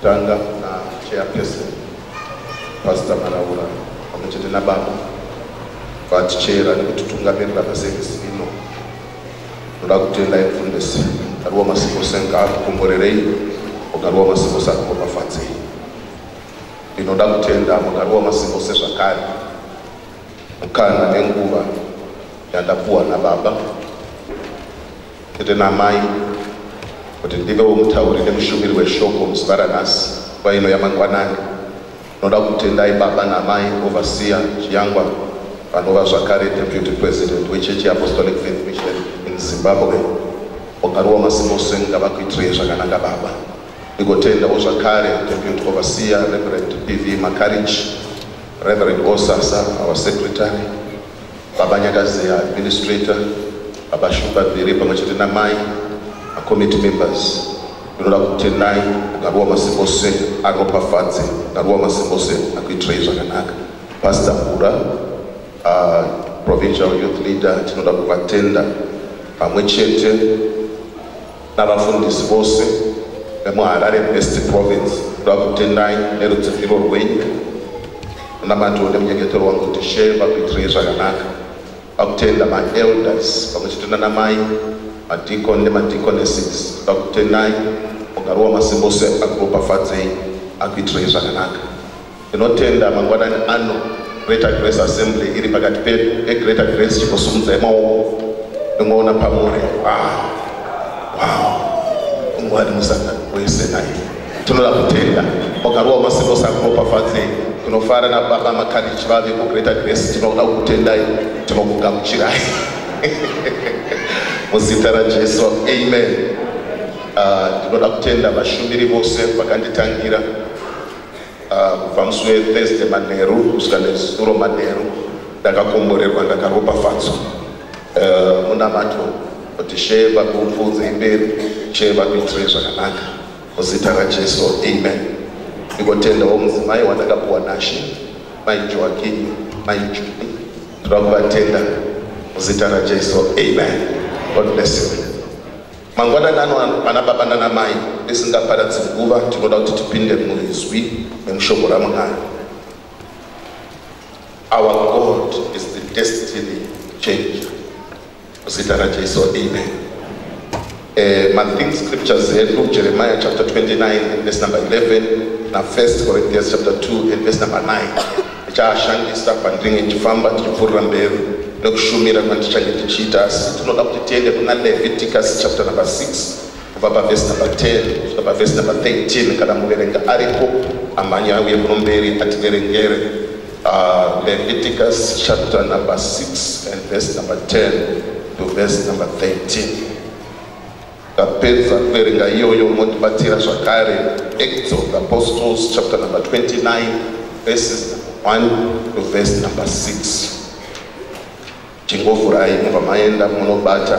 Tanga na chairperson Pastor Maraura pamwe chete nababa vatichera nekutitungamirira paservice ino. Ndoda kutenda mfundisi Karuwa Masiko Senga akukomborerei Mugaruwa Masiko sakuropafadzei. Ndinoda kutenda Mugaruwa Masiko sezvakare mukana nenguva yandapuwa nababa tete naamai kuti ndivewo mutauri nemushumiri weshoko muzuva ranhasi nguva ino yamangwanani tinoda kutendai baba naamai ovasiya chiyangwa vanova zvakare deputy president wechechi yeapostolic faith mission in zimbabwe wagaruwa masimose ngavakuitirei zvakanaka baba ndikotendawo zvakare deputy overseer reverend pv macarriage reverend osasa our secretary Baba Nyakazeya, administrator, Baba Shumba Bviri pamwe chete namai makomiti members ndinoda kutendai ngaruwa masimbose aropafadze ngaruwa masimbose akuitirei zvakanaka pastor mura uh, ah, provincial youth leader tinoda kuvatenda pamwe chete navafundisi vose vemuharare west province ndoda kutendai nerudziviriro rwenyu munamatiwo nemunyengetero wangu kuti shee vakuitirei zvakanaka vakutenda maelders pamwe chete nanamai madicon nemadiconesses ndoda kutendai mugari wamasimbose akuropafadzei akuitirei zvakanaka Ndinotenda mangwanani ano Greater Grace Assembly iri pakati pedu e Greater Grace chingosumudzai maoko ndingoona pamuri wow wow mwari musangano wese naye tinoda kutenda wakarowa masiko sakuropafadzei tinofara nababa makadichi vave kugreater grace tinoda kutendai tinokugamuchirai muzita rajesu amen ah, ndinoda uh, kutenda vashumiri vose vakanditangira Ah, kubva musi wethursday manheru kusvika nezuro manheru ndakakomborerwa ndakaropafadzwa ah, munamato kuti shee vakuupfuudze imberi shee vakuitire zvakanaka muzita rajesu amen ndikotendawo mudzimai wandakapuwa nashe mai joakini mai juni tinoda kuvatenda muzita rajesu amen god bless you Mangwanani ano ana baba nana mai tisingaparadzi nguva tinoda kuti tipinde muizwi nemushoko raMwari. Our God is the destiny changer. Muzita raJesu, amen. Eh, mathing scriptures edu Jeremiah chapter 29 and verse number 11 na 1 Corinthians chapter 2 and verse number 9. ndichaashandisa pandinenge ndichifamba ndichipfuurira mberi nekushumira kwandichange ndichiita asi tinoda kuti tiende kuna leviticus chapter number 6 kubva pavhesi number 10 kusvika pavhesi number 13 kana muverenga ariko amhanya auye kuno mberi ativerengere uh, leviticus chapter number 6 and verse number 10 to verse number 13 Tapedza kuverenga iyoyo motibatira zvakare Acts of the Apostles chapter number 29 verses 1 to verse number 6. Chingovurai mubva maenda munobata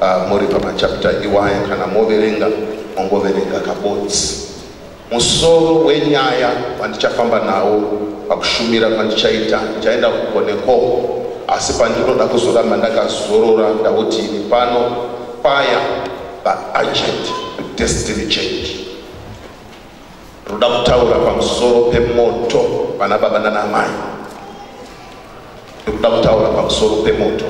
uh, muri pamachapter iwaya kana moverenga mongoverenga kabodzi. Musoro wenyaya wandichafamba nawo pakushumira kwandichaita ndichaenda kuko nekoko, asi pandinoda kuzoramba ndakazorora ndauti ini pano paya paagent destiny change ruda kutaura pamusoro pemoto vana baba nanamai ndikuda kutaura pamusoro pemoto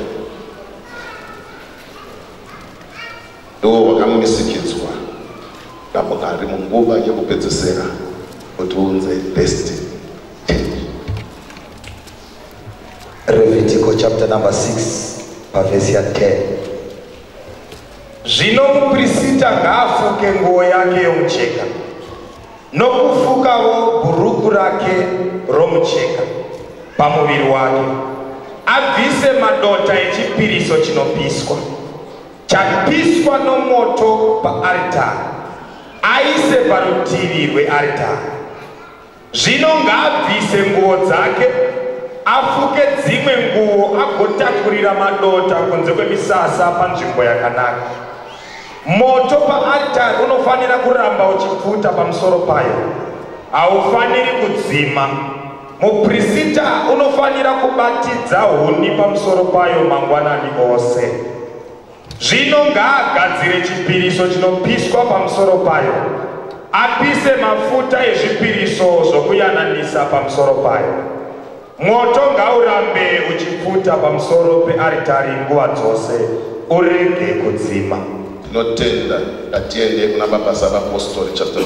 ndiwo wakamisikidzwa namwari munguva yekupedzesera kuti unze destiny Levitical chapter number 6 pavhesi ya 10 zvino muprisita ngaafuke nguo yake yomucheka nokufukawo bhuruku rake romucheka pamuviri wake abvise madota echipiriso chinopiswa Chapiswa nomoto paaritari, aise parutivi rwearitari. Zvino ngaabvise nguo dzake, afuke dzimwe nguo, agotakurira madota kunze kwemisasa panzvimbo yakanaka. Moto paaritari unofanira kuramba uchipfuta pamusoro payo, haufaniri kudzima. Muprisita unofanira kubatidza huni pamusoro payo mangwanani ose. Zvino ngaagadzire chipiriso chinopiswa pamusoro payo, apise mafuta ezvipiriso zvokuyananisa pamusoro payo. Mwoto ngaurambe uchipfuta pamusoro pearitari nguva dzose, urege kudzima. Tinotenda. Ngatiende kuna Baba Saba Postori chapter 20.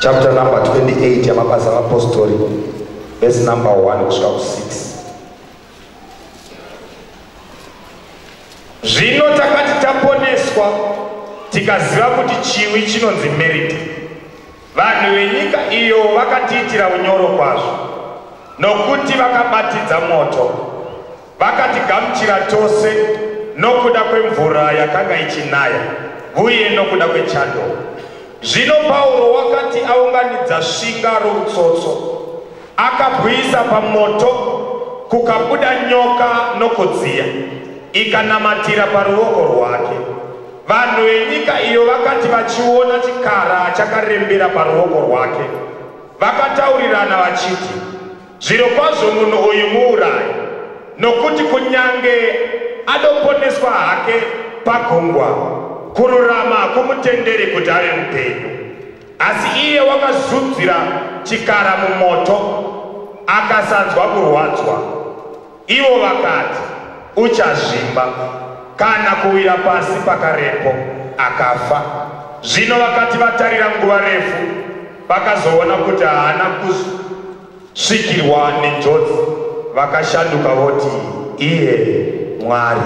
chapter number 28 yamabasa avapostori vese number 1 kusvika ku6 zvino takati taponeswa tikaziva kuti chiwi chinonzi merita vanhu venyika iyo vakatiitira unyoro kwazvo nokuti vakabatidza moto Vakatigamuchira tose nokuda kwemvura yakanga ichinaya uye nokuda kwechando. Zvino Pauro wakati aunganidza svinga routsotso, akabwisa pamoto, kukabuda nyoka nokudziya, ikanamatira paruoko rwake. Vanhu venyika iyo vakati vachiona chikara chakarembera paruoko rwake, vakataurirana vachiti, Zvirokwazvo munhu uyu muurayi, nokuti kunyange adoponeswa hake pagungwa, kururama hakumutenderi kuti ave mupenyu. Asi iye wakazunzira chikara mumoto, akasanzwa kurwadzwa. Ivo vakati, Uchazvimba, kana kuwira pasi pakarepo, akafa. Zvino vakati vatarira nguva refu, vakazoona kuti haana kusvikirwa nenjodzi, vakashanduka voti, Iye Mwari.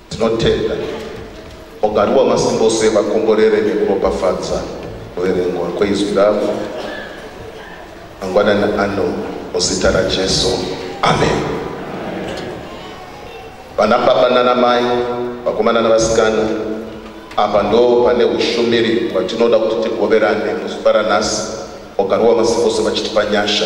Tinotenda mugari waMasimbose vakomborere nekuropafadza kuverengwa kweizwi ravo mangwanani ano muzita raJesu. Amen. Vana baba nana mai, vakomana navasikana, apa ndo pane ushumiri hwatinoda kuti tigoverane muzuva ranhasi mugari waMasimbose vachitipa nyasha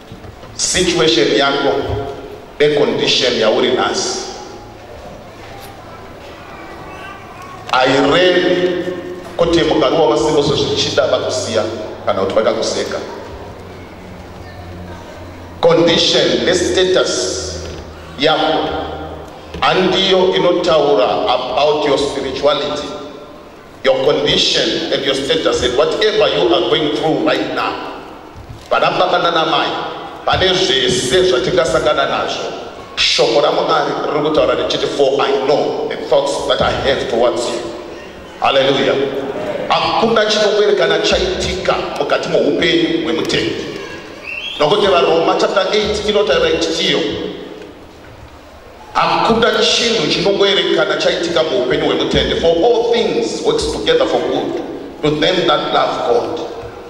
situation yako necondition yauri nhasi airevi kuti mukaruwa masimboso zvichida vakusiya kana kuti vakakuseka condition nestatus yako handiyo inotaura about your spirituality your condition and your status and whatever you are going through right now vana baba nanamai pane zvese zvatingasangana nazvo shoko ramwari riri kutaura richiti for i know the thoughts that i have towards you haleluya hakuna chinokwerekana chaitika mukati moupenyu hwemutendi nokuti varoma chapter 8 inotaura ichitiyo Hakuda chinhu chinongoerekana chaitika muupenyu hwemutende for all things works together for good to them that love God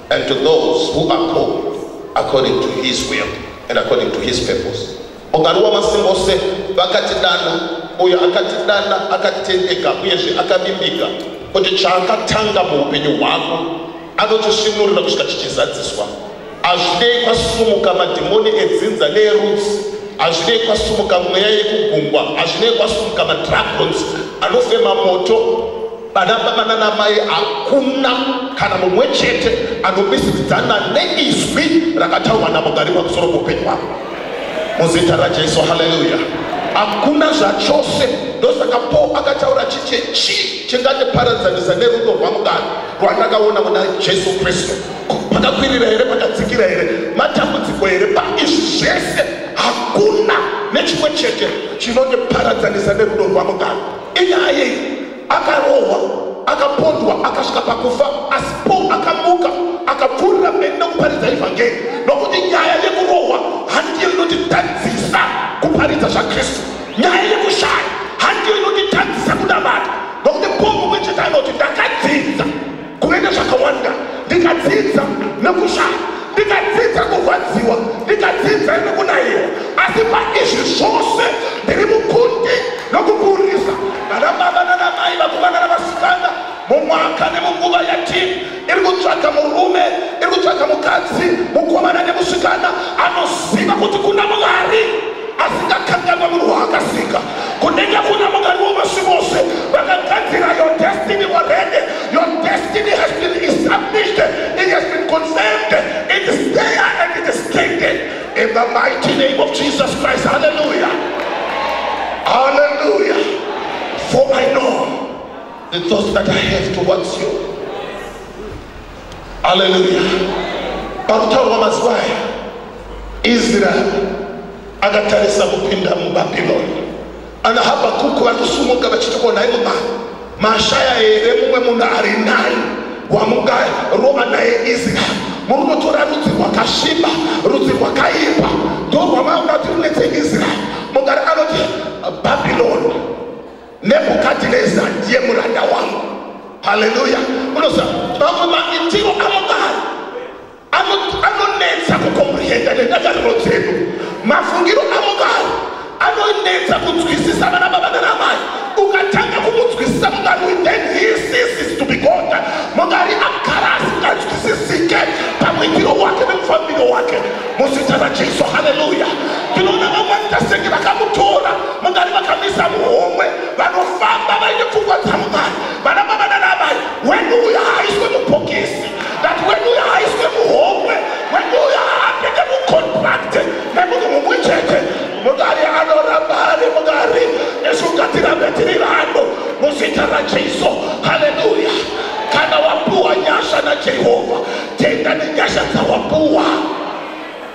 and to those who are called according to his will and according to his purpose. Mugari wamasimba ose vakatidana, uyo akatidana akatendeka uyezve akavimbika kuti chaakatanga muupenyu hwako Anotisvinurira kusvika tichizadziswa. Hazvinei kwasumuka madhimoni edzinza neerudzi, hazvinei kwasumuka mweya yekugungwa, hazvinei kwasumuka madragons anofema moto banababa nanamai hakuna kana mumwe chete anomisidzana neizwi rakataurwa namugari pamusoro poupenyu wavo muzita rajesu haleluya hakuna zvachose ndosaka paul akataura chiche chii chingatiparadzanisa nerudo rwamugari rwandakaona muna jesu kristu pakakwirira here pakadzikira here matambudziko here paizvi zvese hakuna nechimwe chete chinondiparadzanisa nerudo rwamugaro inyaya yei akarohwa akapondwa akasvika pakufa asi po akamuka akapfuurira mberi nekuparidza evhangeri nokuti nyaya yekurohwa handiyo inotitadzisa kuparidza zvakristu nyaya yekushaya handiyo inotitadzisa kunamata nokuti paul mumwe chete anoti ndakadzidza kuve nezvakawanda ndikadzidza nekushaya ndikadzidza kurwadziwa ndikadzidza nekunaiwa asi paizvi zvose ndiri mukundi nokuburisa vanababa nanamai vakomana navasikana mumwaka nemunguva yatiri iri kutsvaga murume iri kutsvaga mukadzi mukomana nemusikana anoziva kuti kuna mwari asingakanganwa munhu waakasika kunenge kuna mwari wovasi vose vakagadzira your destiny already your destiny has been established it has been confirmed it is there and it is taken in the mighty name of jesus christ hallelujah hallelujah for i know The thoughts that I have towards you. Hallelujah. Pakutaurwa mazuva aya, Israel akatarisa kupinda muBabylon. Ana Habakuku vari kusumuka vachiti ko nhai mumai mashaya here mumwe munhu ari nani wamungarova naye Israel murunotora rudzi rwakasviba rudzi rwakaipa ndorwamaunga kuti runetse Israel mungari anoti Babylon nebhukadhineza ndiye muranda wangu haleluya unoziva mamwe maitiro amodaro anonetsa kukomprehenda nendangariro dzedu mafungiro amodaro anonetsa kunzwisisa vana baba nanamai ukatanga kumunzwisisa mungari then he ceases to be god mungari agara asinganzwisisike pamwitiro wake nemufambiro wake muzita rajesu haleluya tinoona vamwani tasenge vakamutora mungani vakamisa muhomwe vanofamba vaine pfungwa dzamungani vana bavana naamai wenu uyo haaiswe mubhokisi that wenu uyo haaiswe muhomwe wenu uyo haapinde mucontracte nemunhu mumwe chete mungari anoramba ari mungari nesu ngatirambe tiri vanhu muzita rajesu haleluya kana wapuwa nyasha najehovha tenda nenyasha dzawapuwa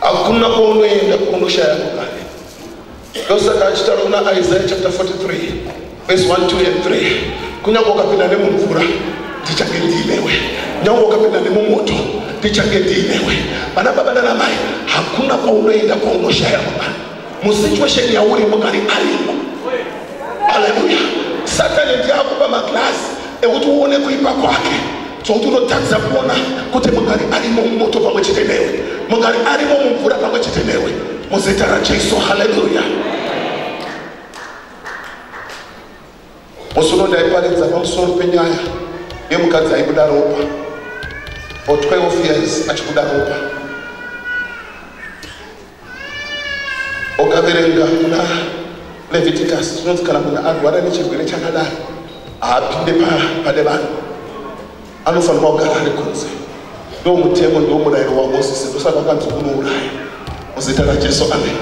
hakuna kwaunoenda kwaunoshaya kugare ndosaka achitaura kuna isaya chapter 43 vese 1 2 and 3 kunyange ukapinda nemumvura ndichange ndiinewe nyange ukapinda nemumoto ndichange ndiinewe vana baba nanamai hakuna kwaunoenda kwaunoshaya kugare musituation yauri mukari arimo aleluya satani ndiye akupa maglasi ekuti uone kuipa kwake zvokuti unotadza kuona kuti mugari arimo mumoto pamwe chete newe mugari arimo mumvura pamwe chete newe muzita rajesu haleluya musi uno ndaiparidza pamusoro penyaya yemukadzi aibuda ropa for 12 years achibuda ropa ukaverenga kuna leviticus chinonzi kana munhu arwara nechirwere chakadaro haapinde pane vanhu anofanirwa kugara ari kunze ndo mutemo ndo murayiro wamosisi ndosaka ukanzi unouraya muzita rajesu amen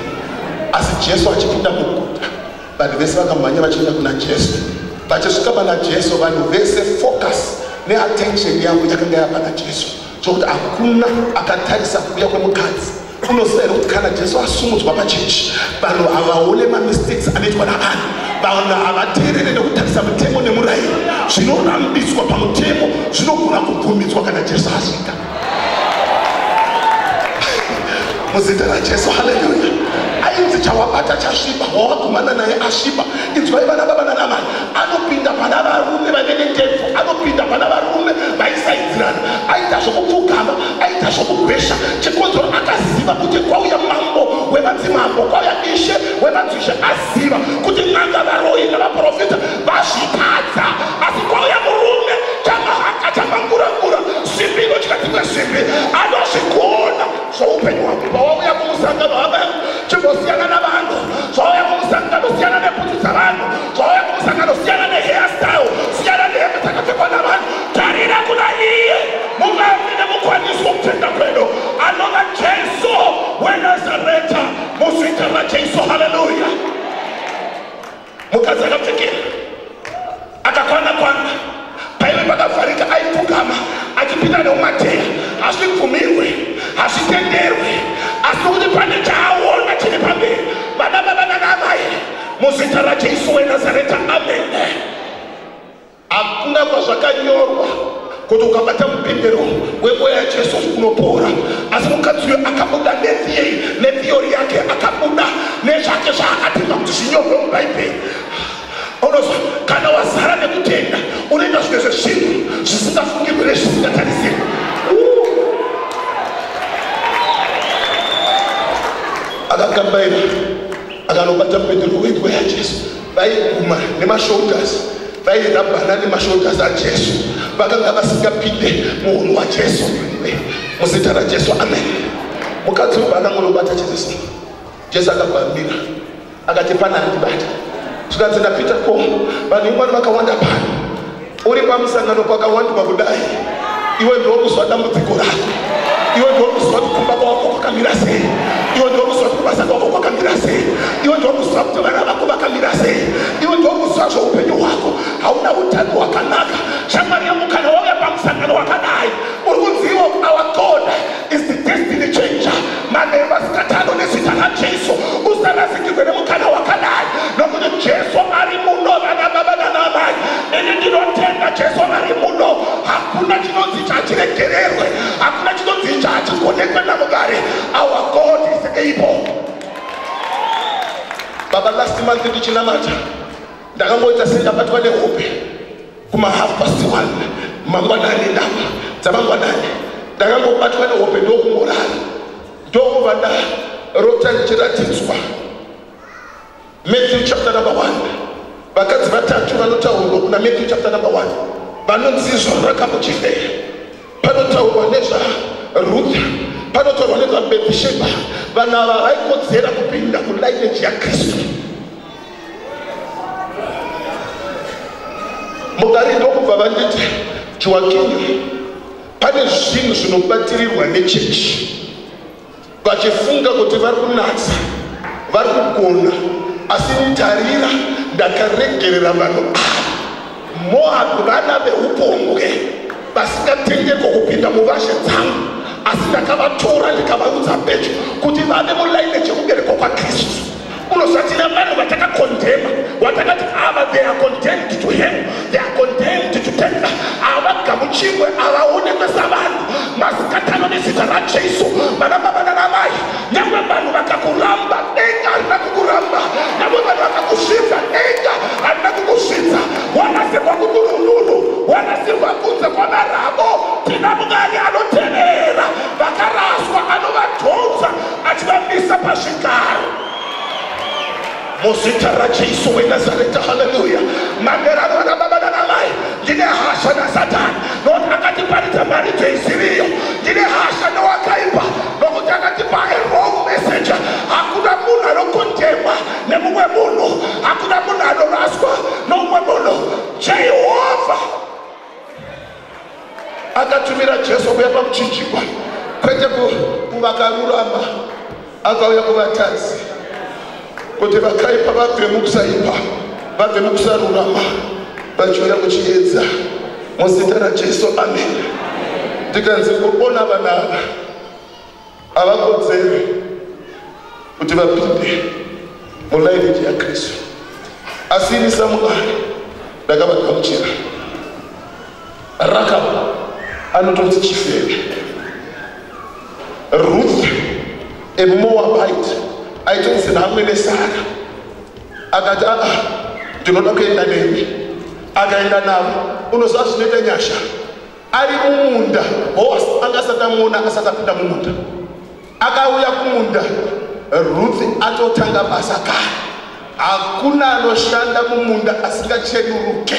asi jesu achipinda muguta vanhu vese vakamhanya vachienda kuna jesu vachisvika pana jesu vanhu vese focus neattention yavo yakanga yapana jesu chokuti hakuna akatarisa kuuya kwemukadzi unoziva here kuti kana jesu asumudzwa pachechi vanhu havaone mamistakes anoitwa navanhu vanhu havateerere nekutarisa mutemo nemurayiro zvinorambidzwa pamutemo zvinogona kubvumidzwa kana jesu asvika muzita rajesu haleluya ainzi chawabata chasviba wawakumana naye asviba inzwai vana baba nanamai anopinda pana varume vave nendefu anopinda pana varume vaisai aigadzirana aita zvokupfugama aita zvokugwesha chikonzero akaziva kuti kwauya mambo wevadzimambo kwauya ishe wevadzishe aziva kuti n'anga varoyi nevaprofita vazvitadza asi kwauya murume chamahaka chamangurangura simbi inotya dzimwe simbi anozvigona zvoupenyu hwake pawauya kumusangano hama yangu chimbosiyana navanhu zvauya kumusangano siyana nebhutsu dzavanhu zvauya kumusangano siyana nehea style siyana nehembe dzakapfekwa navanhu Tarira kuna iye muvavi nemukwanisi wokutenda kwedu, anova Jesu weNazareta, muzita raJesu. Haleluya! Mukadzi akapfekera akakwana kwana paive pakavharika, aipfugama achipinda neumateya. Hazvibvumirwe, hazvitenderwe, asi nokuti pane chaaona chiri pamberi, vana baba nana amai, muzita raJesu weNazareta, amene. Hakuna kwazvakanyorwa kuti ukabata mupendero wemweya yajesu unopora asi mukadzi uyo akabuda nethiyei nethiyori yake akabuda nezvake zvaakatenga kuti zvinyorwe mubhaibheri unozwa kana wazara nekutenda unoita zvimwe zvezvinhu zvisingafungirwe nezvisingatarisirwe akakambaira akanobata mupendero wemweya yajesu vaiguma nemashoulders vairabhana nemashoulders ajesu vakanga vasingapinde muhunhu wajesu muzita rajesu amen mukadzi uyu akangonobata jesu jesu akabvamira akati pana andibata zvikanzi ndapita ko vanhu imwani vakawanda pano uri pamusangano kwakawandwa kudai iwe ndokuzwa dambudziko rako iwe ndokuzwa kuti kumba kwako kwakamira sei iwe ndokuzwa kuti kubasa kwako kwakamira sei iwe ndokuzwa kuti vana vako vakamira sei iwe ndokuzwa zveupenyu hwako hauna utano hwakanaka shamwari yangu kana wave pamusangano wakadai uri kuziva our god is the destiny changer manheru masikati ano nezita rajesu usarasikirwe nemukana wakadai nokuti jesu ari muno vana baba nanamai ini ndinotenda jesu vari muno hakuna chinonzi chachiregererwe hakuna chinonzi chachigonekwe namugari our god is able baba last month ndichinamata ndakangoita sendabatwa nehope kuma half past one mangwanani ndava dzamangwanani ndakangobatwa nehope ndokungorara ndokubva ndarota ndichiratidzwa matthew chapter number one vakadzi vatatu vanotaurwa kuna matthew chapter number one vanonzi izvoro rakamuchifeya panotaurwa nezvarutha panotaurwa nezvabhethisheba vanhu ava vaikodzera kupinda kulineji yakristu mugari ndokubva vanditi joakinyo pane zvinhu zvinobatirirwa nechechi vachifunga kuti vari kunatsa vari kugona asi mutarira ndakaregerera vanhu ava moabi vana veupombwe vasingatengeko kupinda muvashe dzangu asi ndakavatora ndikavaudza pecho kuti vave mulaine chekuberekwa kwakristu Unozvati navanhu vatakakondhema watakati ava they are condemned to hell they are condemned to death havagamuchirwe havaonekwe savanhu masikatano nezita rajesu vana baba nana mai nyangwe vanhu vakakuramba denga harina kukuramba nyangwe vanhu vakakusvibza denga harina kukusvibza wanasirwa kuduruduru wanasirwa kunze kwamarabo tina mwari anotevera vakaraswa anovatonza achivamisa pazvigaro muzita rajesu wenazareta haleluya manderano anababa nanamai ndine hasha nasatani nokuti akatiparidza mharidzo isiriyo ndine hasha nowakaipa nokuti akatipa erong messenger hakuna munhu anokondemwa nemumwe munhu hakuna munhu anoraswa nomumwe munhu jehovha akatumira jesu kuya pakuchinjikwa kwete kuvakarurama akauya kuvatadzi kuti vakaipa vabve mukusaipa vabve mukusarurama vachiuya kuchiedza muzita rajesu amen tikanzi kuona vana ava havakodzeri kuti vapinde mulairiji yakristu asi ini samuari ndakavagamuchira rakab anotonzi chifeve ruth emoabit aitonzi namwe nesara akati aa ah, ndinoda kuenda nemi akaenda navo unoziva zvinoita nyasha ari mumunda boas anga asati amuona asati apinda mumunda akauya kumunda ruthi atotanga basa kare hakuna anoshanda mumunda asingachenuruke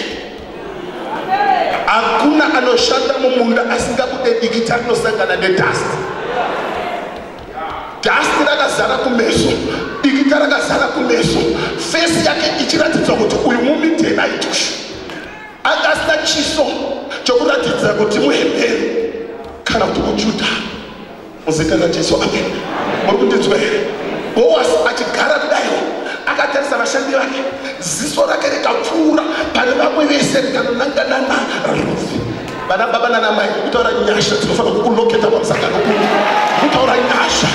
hakuna anoshanda mumunda asingabude dikita rinosangana nedust dust rakazara kumeso dikita rakazara kumeso fesi yake ichiratidza kuti uyu mumidhena itushu anga asina chiso chokuratidza kuti muhebheru kana kuti kujudha muzita rajesu amen muri kundinzwa here boas achigara kudaiwo akatarisa vashandi vake ziso rake rikapfuura pane vamwe vese rikanonanganana rufi vana baba nanamai kutaura nyasha dzinofanira kukuloketa pamusangano kuu kutaura nyasha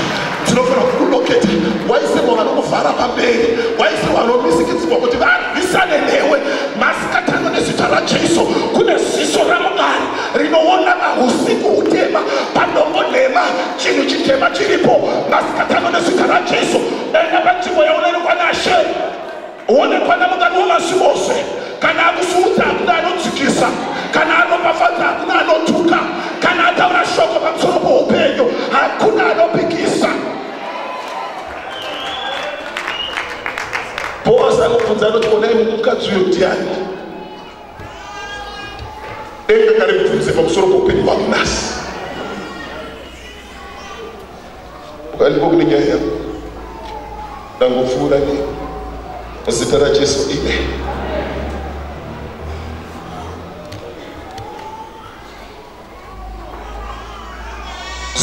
dzinofanira kukuloketa waisirwa vanokuvhara pamberi waisirwa vanomisikidzirwa kuti varwisane newe Tatano nezita raJesu kune ziso raMwari rinoona mahusiku hutema padombo nhema chinhu chitema chiripo masikatano nezita raJesu enda panzvimbo yaunero kwanashe uone kwana mukati wemasi ose kana akusuudza hakuna anodzikisa kana anopafadza hakuna anotuka kana ataura shoko pamusoro poupenyu hakuna anopikisa Boazi akabvunza anoti onai mukadzi uyo ndiani denga kare bvunze pamusoro poupenyu hwangu nhasi ukandiko kune nyaya yangu ndangopfuura ne muzita rajesu ine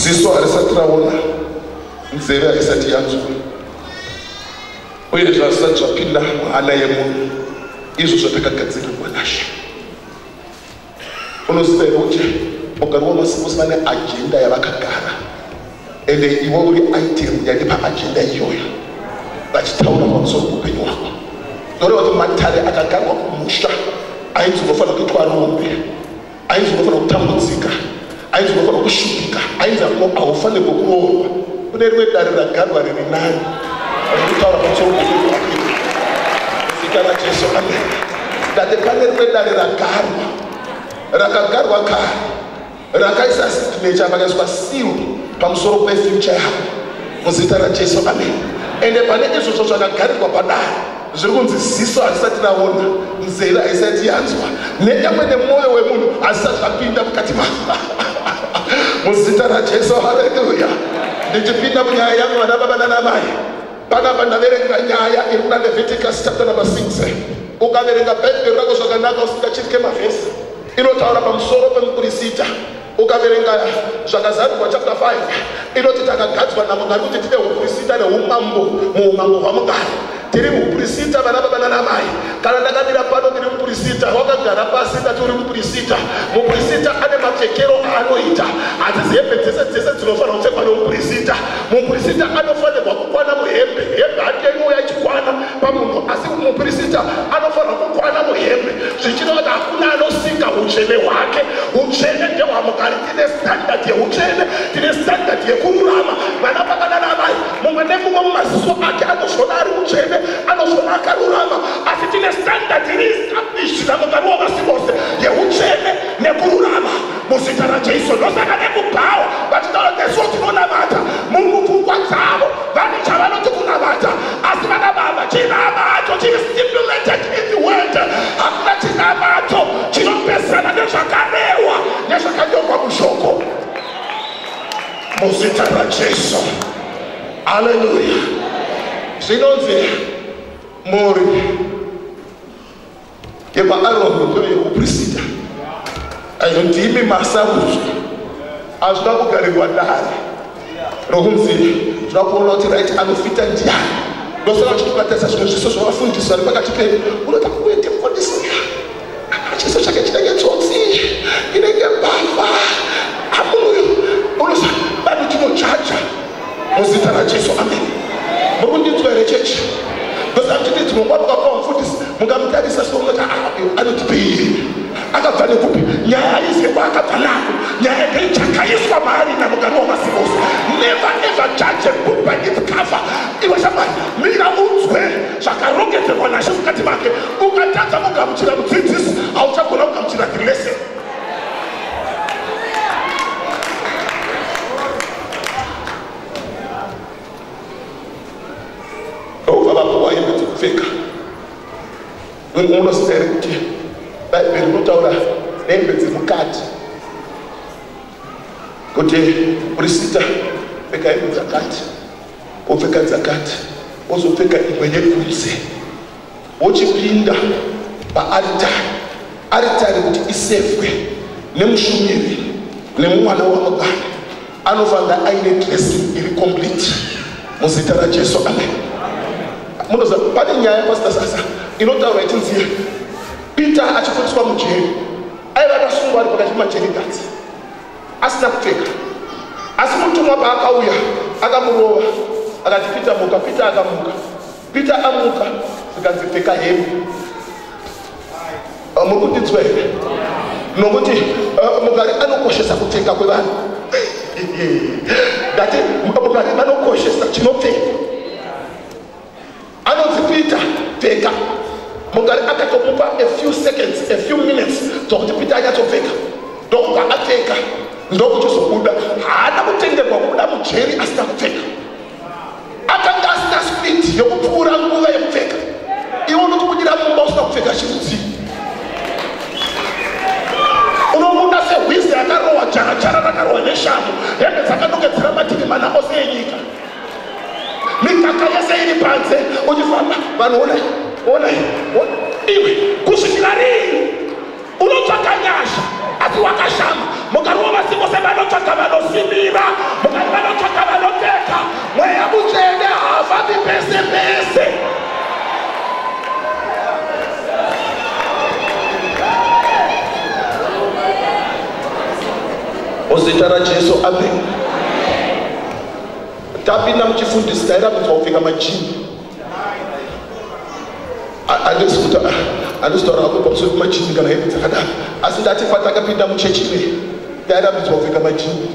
ziso harisati raona nzeve haisati yanzwa uye zvazisati zvapinda muhana yemunhu izvo zvatakagadzirirwa nashe unoziva here kuti mugari wamasimusi vane ajenda yavakagara ende iwe uri item yati paajenda iyoyo vachitaura pamusoro kuupenyu hwako noreva kuti matare akagarwa kumusha ainzi unofanira kuitwa rombe ainzi unofanira kutambudzika ainzi unofanira kushupika ainzi ako haufanirwe kuroorwa kune rimwe dare ragarwa riri nani rekutaura pamusoro pokuake zita rajesu amen ndati pane rimwe dare ragarwa rakagarwa kare rakaisa signature vakaiswa seal pamusoro pefuture yavo muzita rajesu amen ende pane izvozvo zvakagarirwa padare zviri kunzi ziso harisati raona nzeve haisati yanzwa nenyamwe nemwoyo wemunhu hazisati zvapinda mukati ma muzita rajesu haleluya ndichipinda munyaya yangu vana baba nanamai panapa ndaverenga nyaya iri kuna leviticus chapter number 6 ukaverenga bhaibheri rako zvakanaka usingachitye mavhesi inotaura pamusoro pemukurisita ukaverenga zvakazarurwa chapter 5 inoti takagadzwa namwari kuti tine uprisita neumambo muumambo hwamugari tiri muprisita vana baba nanamai kana ndakamira pano ndiri muprisita wakagara pasi ndati uri muprisita muprisita ane mapfekero aanoita hadzisi hembe dzese dzese dzinofanira kupfekwa nemuprisita muprisita anofanirwa kukwana muhembe hembe hake inouya ichikwana pamunhu asi mupirisita anofanira kukwana muhembe zvichireva kuti hakuna anosika utsvene hwake utsvene ndehwamukari tine standard yeutsvene tine standard yekururama vana pakanana amai mumwe nemumwe mumaziso ake anozvona ari utsvene anozvona akarurama asi tine standard iri established namukari wavasi vose yeutsvene nekururama muzita rajesu ndosaka nekubhawa vachitaura nesuo tinonamata mumupfungwa dzavo Vane chavanoti kunamata asi vanamama chinamato chiri stipulated in the world. Hakuna chinamato chinopesana nezvakarehwa nezvakanyorwa mushoko muzita raJesu. Haleluya. Zvinonzi mhuri yemaaromotore yekuprisita ainoti imi masauzvi azvida kugarirwa dare rokunzi zvida kuona kuti rit anofita ndiyani ndosaka uchitobatisa zvimwe zviso zvavafundisi vari pakati pedu unoda kuende mufundisi chiso chake chinenge tsotsi inenge mbavha amunoyo unosa bado chinochacha muzita rajesu amen murikundinzwa here chechi because akuchiti dzimwe nguva mukakuva mufundisi mukamutarisa sounoti ah, anotipii akabva nekupi nyaya haizive kwaakabva nako nyaya ndeichakaiswa maari namugari wamasimusi never ever judge a book by its cover iwe shamwari mira unzwe zvakarongedzerwa nashe mukati make ukatadza kugamuchira mudzidzisi hauchagona kugamuchira the lesson munoziva here kuti bhaibheri rinotaura hembe dzemukati kuti murisita pfeka hembe dzakati wopfeka dzakati wozopfeka imwe yekunze wochipinda paaritari aritari kuti isevwe nemushumiri nemumwana wamubana anofanira aine dresi iri complete muzita rajesu amen munoza pane nyaya yamasitasasa inotaura itinziye peter achifundiswa mujeri aiva akasungwa ari pakati pemajerigats asina kupfeka asi mutumwa paakauya akamurova akati peter muka peter akamuka Peter amuka zvikanzi pfeka hembe ah, muri kundinzwa here nokuti ah, mugari anokoshesa kupfeka kwevanhu ndati mugari anokoshesa chinopfeka anonzi peter pfeka mugari akatomupa a few seconds a few minutes dzokuti peter anyatsopfeka ndokubva apfeka ndokuchizobuda haana kutenderwa kubuda mujeri asina kupfeka akanga asina spidi yokupfuura nguva yekupfeka iwe unotobudira mumba usina kupfeka chinhu chii unobuda sehwizi akarohwa jarajara rakarohwa neshamu hembe dzakadokedzera mativi mana ose enyika mikaka yese iri panze uchifamba vanhu onai onai iwe kusvikira rii unotsvaka nyasha asi wakashama mukarova vasi vose vanotsvaka vanosimira mukari vanotsvaka vanopfeka mweya mutsvene havavi pese pese muzita rajesu amen tapinda muchifundisi tairambidzwa kupfeka majini andisi kuti andisi taura hako pamusoro pemajini kana hembe dzakadaro asi ndati patakapinda muchechi ine tairambidzwa kupfeka majini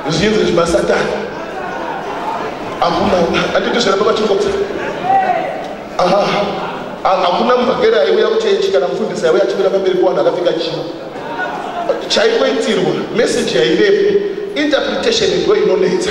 zviinzi zvemasatani hakuna anditi zvera pamachikotsa aha hakuna mubhakeri aiuya kuchechi kana mufundisi aiuya achimira pamberi kuvanhu akapfeka jini chaikoitirwa meseji yaivepo interpretation ndo inonetsa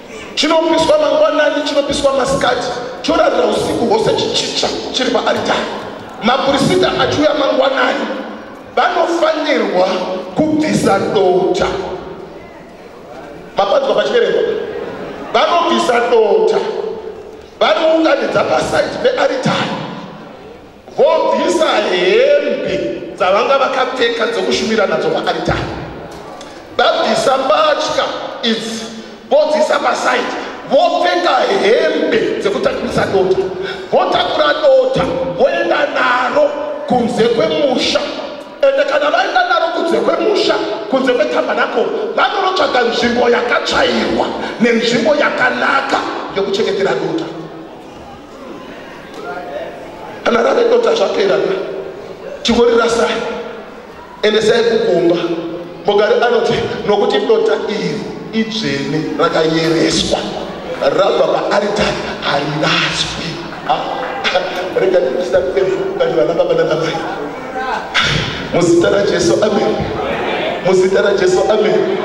chinopiswa mangwanani chinopiswa masikati chorarira usiku hwose chichicha chiri paaritari mapurisita achiuya mangwanani vanofanirwa kubvisa dota mapanzwa pachiverengo vanobvisa dota vanounganidza pasaiti pearitari vobvisa hembe dzavanga vakapfeka dzokushumira nadzo paaritari vabvisa mbatya idzi vodziisa pasaidi vopfeka hembe dzekutakurisa dota votakura dota voenda naro kunze kwemusha ende kana vaenda naro kunze kwemusha kunze kwetabhanako vanorotsvaga nzvimbo yakatsvairwa nenzvimbo yakanaka yokuchengetera dota kana rave dota zvapera ka chingorirasai endesai kukumba mugari anoti nokuti dota iri idzvene rakayereswa rabva paaritari hariraswi ah, rega ndisina kuevuka ndivana baba nanamai muzita rajesu amen muzita rajesu amen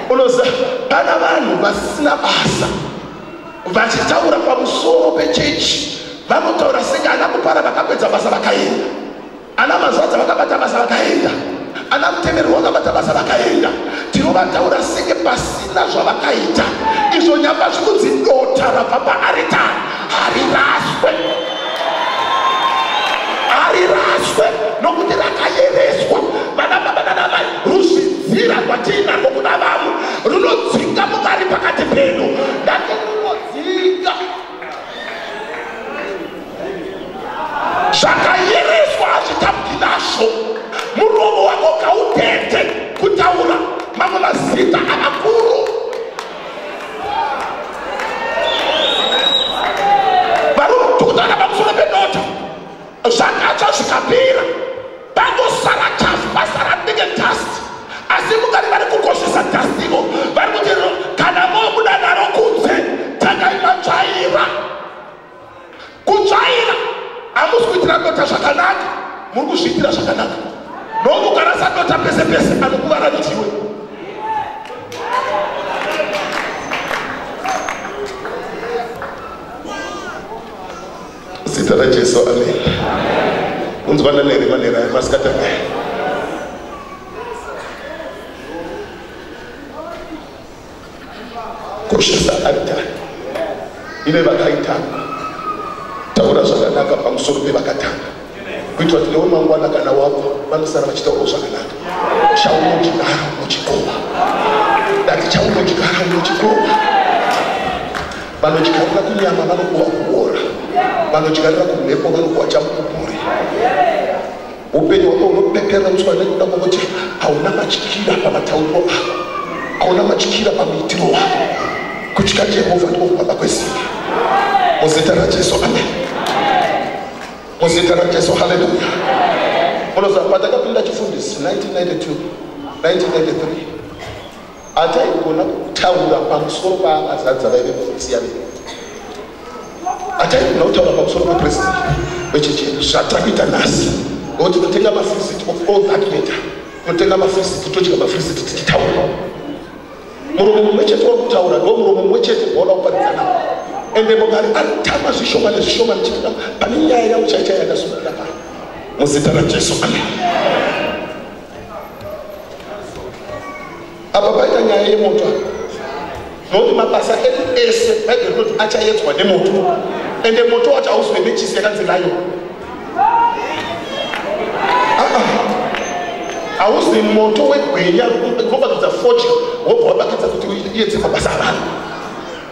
unoziva kana vanhu vasina basa vachitaura pamusoro pechechi vanotaura senge ana kupara vakapedza basa vakaenda ana mazvadza vakabata basa vakaenda ana mutemerwa vakabata basa vakaenda tinovataura senge pasina zvavakaita izvo nyamba zvikunzi dota rabva paaritari hariraswe hariraswe nokuti rakayereswa vana baba nanamai ruzvidzira kwatiinarwo kuna vamwe runodzinga mukari pakati penu ndati runodzinga zvakayereswa hazvitambi nazvo muromo wako kautete kutaura mamwe mazita amakuru zvakatsva zvikapira pangosara chafu pasara ndenge dust asi mukati vari kukoshesa dust ivo vari kuti kana mobuda naro kunze tangai matsvaira kutsvaira hamusi kuitira dota zvakanaka muri kuzviitira zvakanaka nomukarasa dota pese pese anokuvara ndiwe Zita raJesu, amen. Unzwa nanere manera emasikati ake. Koshesa altari ine vakaitanwa. Taura zvakanaka pamusoro pevakatanga. kuitira kuti newe mangwana kana wabva vanosara vachitaurawo zvakanaka chaunodyara unochikova dati chaunodyara unochikova vanodyarira kunyama vanokuwa kuora vanodyarira kumhepo vanokuwa chamupupuri upenyu hwako hunopeperanuswa nekuda kwokuti hauna matyira pamatauriro ako hauna matyira pamuitiro wako kutya jehovha ndiko kubaba kwesimba muzita rajesu ameni muzita rajesu haleluya munoziva pandakapinda chifundisi 1992 1993 hataigona kutaura pamusoro paavazadza vaive vakusiya vei hataigona kutaura pamusoro pepresident vechechi yedu zvatakuita nhasi ngo tinotenga mafrisiti of all that matter tinotenga mafrisiti todya mafrisiti tichitaura muromo mumwe chete wakutaura ndo muromo mumwe chete uona kuparidza navo ende mugari atama zvishoma nezvishoma nechitika pane nyaya yavo chaichaya yakasukira pano muzita rajesu amen apa paita nyaya yemoto nokuti mabasa edu ese baibheri kuti achaedzwa nemoto ende moto wacho hauzive nechisi yakanzi nayo hauzi moto wegweya kubatidza fodya wobva wabatidza kuti uyedze mabasa avanhu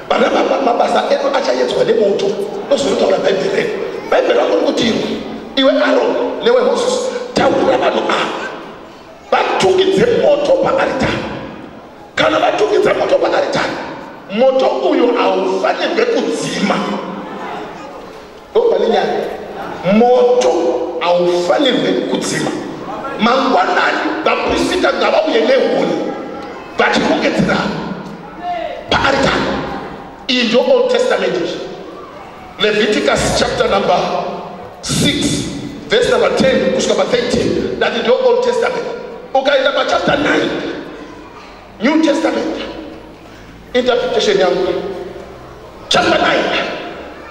vana baba mabasa edu achayedzwa nemoto ndozvinotaura bhaibheri redu bhaibheri rako rikuti irwe iwe aron newe moses taura vanhu ava vatungidze moto paaritari kana vatungidza moto paaritari moto uyo haufanirwe kudzima Ndobva nenyaya moto haufanirwe kudzima mangwanani vaprisita ngavauye nehuni vachirongedzera paaritari iyi ndio old testament izvi leviticus chapter number 6 verse number 10 kusvika pa 13 that is your old testament ukaenda pachapter 9 new testament interpretation yangu chapter 9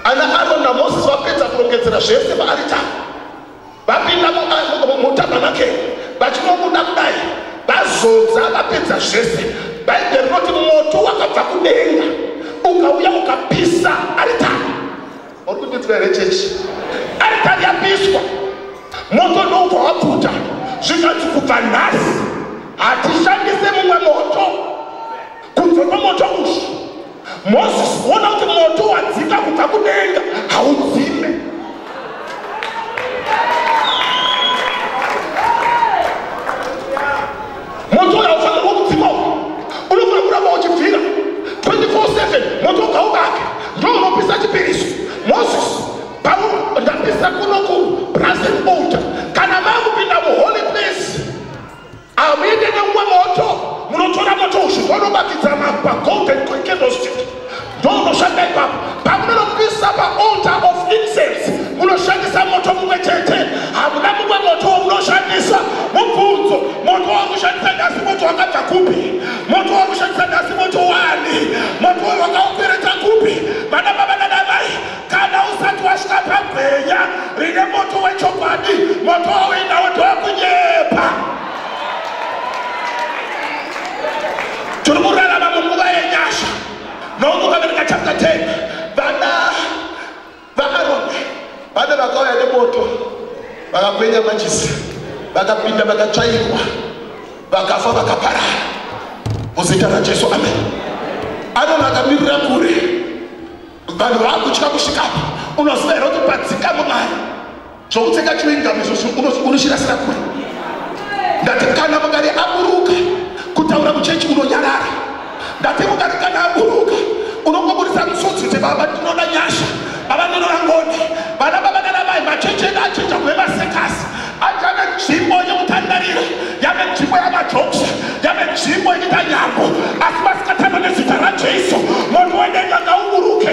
ana aron namoses vapedza kurongedzera zvese vaaritari vapinda mutabernakeri vachinobuda kudai vazodza vapedza zvese bhaibheri rinoti moto wakabva kudenga ukauya ukapisa aritari Uri kududzwa here chechi? Aritari yapiswa, moto ndoubva wapfuta, zvikanzi kubva nhasi hatishandise mumwe moto kunze kwemoto uyu. Moses, ona kuti moto wadzika kubva kudenga haudzime. moto uyo haufanirwa kudzima uku unofanira kuramba uchibvira 24/7 moto ugaubake ndo unopisa chipiriso moses pau ndapisa kuno ku brazen old kana vakupinda muholy place amuende nemumwe moto munotora moto uzvi vonobatidza magwa golden candlestick ndokunoshanda ipapo pamunonopisa paalter of incense munoshandisa moto mumwe chete hamuna mumwe moto wamunoshandisa mubvunzo moto wakushandisa nhasi moto wakabva kupi moto wakushandisa nhasi moto wani moto wayo wakaupereta kupi vana baba nanamai kana usati wasvika pagwenya rine moto wechokwadi moto wauendawo ndowakunyepa tiri kurarama munguva yenyasha nokuvabereka chapter 10 vana vaaroni vana vakauya nemoto vakakwenya majisi vakapinda vakatsvairwa vakafa vakaparara muzita rajesu amen aroni akamirira kure vanhu vakutya kusvikapo unoziva here kuti padzika mumari zvokupfeka chewing gum izvozvo unochirasira kure ndati kana mugari aburuka kutaura kuchechi unonyarara ndati mugari kana aburuka unongoburitsa misodzi kuti baba ndinoda nyasha baba ndinoda ngoni vana baba nanamai machechi edu achinja kuve masekasi ati ane nzvimbo yekutandarira yane nzvimbo yamajoksa yane nzvimbo yekuita nyambo asi masikatano nezita rajesu munhu wenenga ngauburuke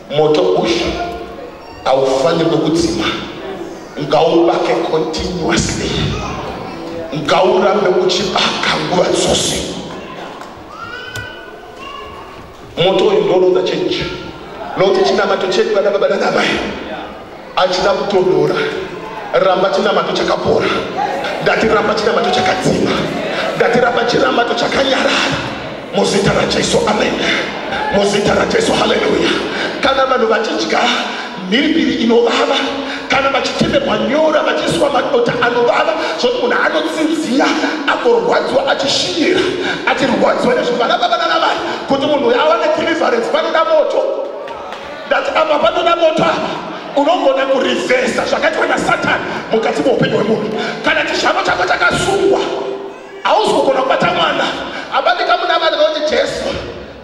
moto uyu haufanirwe kudzima ngaubake continuously ngaurambe uchibaka nguva dzose moto uyu ndooronza chenji nokuti chinamato chedu vana baba nanamai achida kutodora ramba chinamato chakapora ndati ramba chinamato chakadzima ndati ramba chinamato chakanyarara muzita rajesu amen muzita rajesu haleluya kana vanhu vachidya mhiripiri inovava kana vachitemerwa nyora vachiiswa madota anovava zvokuti munhu anotsinziya akorwadziwa achishinyira achirwadziwa nezvivana vavana navai kuti munhu uyo awane deliverance panoda moto ndati apa panoda moto apa unogona kurivhesa zvakaitwa nasatani mukati meupenyu hwemunhu kana chishamo chako chakasungwa hausi kugona kubata mwana abatika muna vana vakuti jesu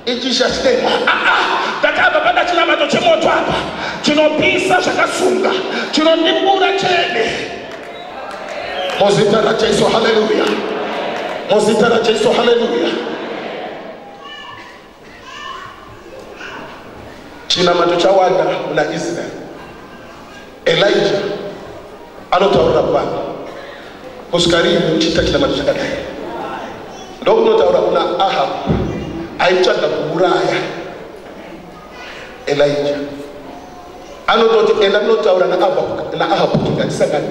ichisha chitema aa ah, ah, ndati apa pada chinamato chemoto apa chinopisa zvakasunga chinondimbura chene muzita rajesu haleluya muzita rajesu haleluya chinamato chawanda muna israeri elija anotaurira kuvanhu kusvika riini muchiita chinamato chakadai ndokunotaura kuna ahabu aitsvaga kuuraya elija anototi enda kunotaura naahabu kuti ngatisangani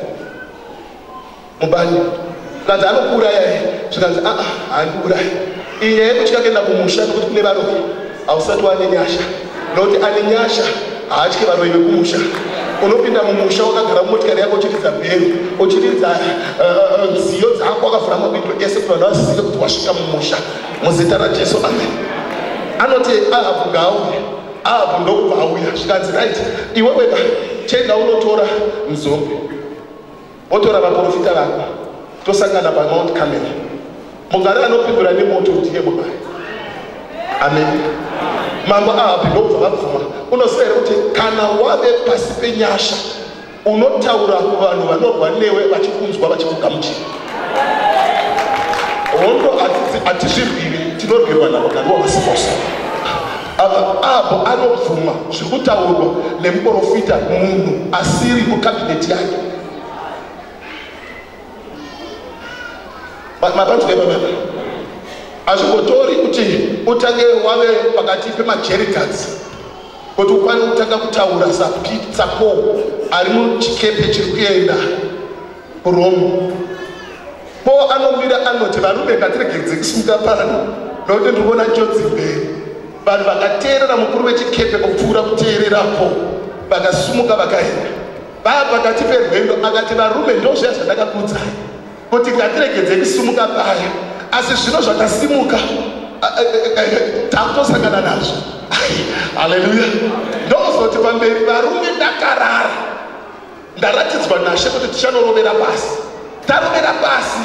mubani zvikanzi anokuuraya e zvikanzi aa haandiurayi iyi nyaya yekutya kuenda kumusha nokuti kune varoyi hausati wane nyasha nokuti ane nyasha haatye varoyi vekumusha unopinda mumusha wakagara mumotikari yako uchiridza bhero uchiridza eh, eh, eh, nziyo dzako wakavhura mabindo ese kuti vanhu vazive kuti wasvika mumusha muzita rajesu amen anoti ahabhu ngaauye ahabhu ndokubva auya zvikanzi right iwe wega chenda unotora muzombe Votora vaporofita vako tosangana paMount Carmel. Mugari anopindura nemoto ndiye Mwari. Amen. Mambo Ahabhi ndobva vabvuma. Unoziva here kuti kana wave pasi penyasha unotaura kuvanhu vanorwa newe vachikunzwa vachikugamuchira. Hondo hatizvirwiri tinorwirwa navo kana wavasimosa. Ahabhu anobvuma zviri kutaurwa nemuporofita munhu asiri mukabineti yake. Mapanzwa ipapa hazvingotori kuti utange wave pakati pemajerikadzi kuti ukwane kutanga kutaura sapitsako ari muchikepe chiri kuenda kurome Ko anomira anoti varume ngatiregedze kusimuka pano nokuti ndiri kuona njodzi mberi. Vanhu vakateerera mukuru wechikepe kupfuura kuteererapo vakasumuka vakaenda. Vaa pakati perwendo akati varume ndozviya zvandakakuudzai kuti ngatiregedze kusimuka paya asi zvino zvakasimuka takutosangana nazvo haleluya ndozoti pamberi varume ndakarara ndaratidzwa nashe kuti tichanorovera pasi tarovera pasi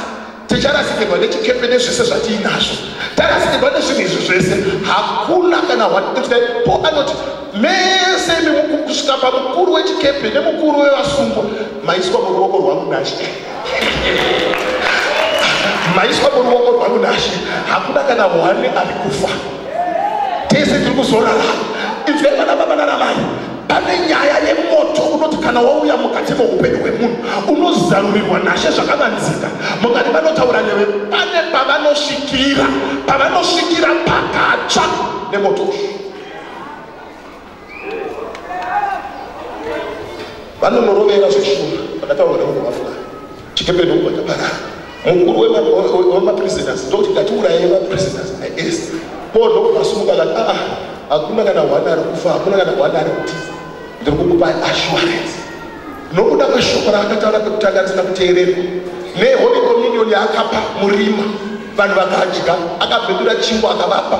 ticharasikirwa nechikepe nezvese zvatiinazvo tarasikirwa nezvinhu izvi zvese hakuna kana po anoti mese kusvika pamukuru wechikepe nemukuru wevasungwa maiswa muruoko rwangu nashe maiswa muruoko rwangu nashe hakuna kana one ari kufa tese tiri kuzorarama inzwai vana baba nanamai pane nyaya yemoto unoti kana wauya mukati meupenyu hwemunhu unozarurirwa nashe zvakavanzika mukati vanotaura newe pane pavanosvikira pavanosvikira pakatsva nemoto ushu vanonorovera zveshura vakataura nemunhu vafuka Chikepe ndokuva chaparara. Mukuru wemaprisoners ndokuti ngatiuraye maprisoners aes. Paul ndokuva asumuka akati aa ah, hakuna kana hwana ari kufa hakuna kana hwana ari kuti ndiri kukupai assurance nokuda kweshoko raakataura pekutanga risina kuteererwa neholy communion yaakapa murima vanhu vakadya akabhedura chingwa akavapa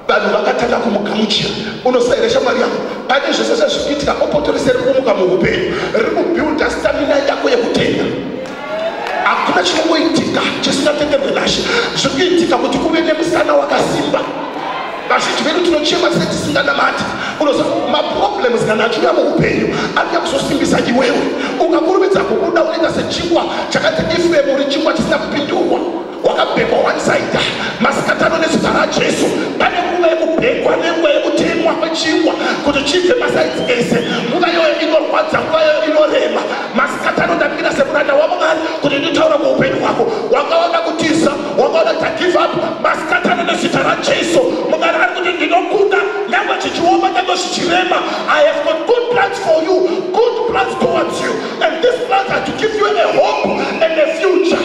vanhu vakatanga kumugamuchira unosaira shamwari yangu pane zvese zvazvikuitika bopoto rese riri kumuka muupenyu riri kubuilda stamina yako yekutenda hakuna chinongoitika chisinatenderwe nashe zviri kuitika kuti kuve nemusana wakasimba vazhinji vedu tinochema sei tisinganamati unoza maproblems kana achiuya muupenyu anoda kuzosimbisa iwewe ukakurumidza kubuda unoita sechingwa chakati ifemu uri chingwa chisina kupindurwa wakabhekwa one side masikatano nezita rajesu pane nguva yekubhekwa nenguva yekutemwa kwechingwa kuti chibve masaidzi ese nguva iyoyo inorwadza nguva iyoyo inorema masikatano ndamira semuranda wamwari kuti nditaura kweupenyu hwako wakaona kutiza wakaona kuti agive up masikatano nezita rajesu mwari ari kuti ndinokuda nyangwe chichioma nyangwe zvichirema i have got good plans for you good plans towards you and this plans are to give you a hope and a future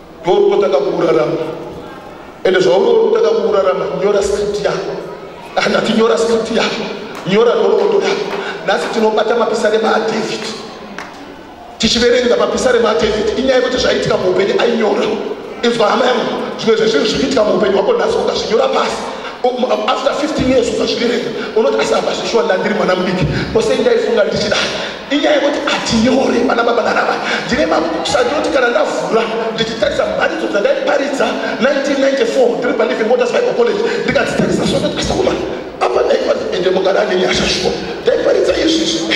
ndorukotaka kurarama ende zvaurorutaka kurarama nyora script yako handati nyora script yako nyora nhoroondo yako nhasi tinobata mapisa nemadavid tichiverenga mapisa nemadavid inyaya yekuti zvaitika muupenyu ainyora inzwa hama yangu zvimwe zvezvinhu zvikuitika muupenyu hwako nhasi ukazvinyora pasi um, um, after 15 years ukazviverenga unoti asi hamba zvishuwa ndandiri mwana mudiki kose ndaifunga ndichidai inyaya yekuti atinyore vana baba nana mai ndine mabooks andinoti kana ndavhura ndichitarisa mharidzo dzandaiparidza 1994 ndiri paliving waters bible college ndikadzitarisa sototasauma apa ndaiparidza ende mugari ane nyasha shuwa ndaiparidza izvizvi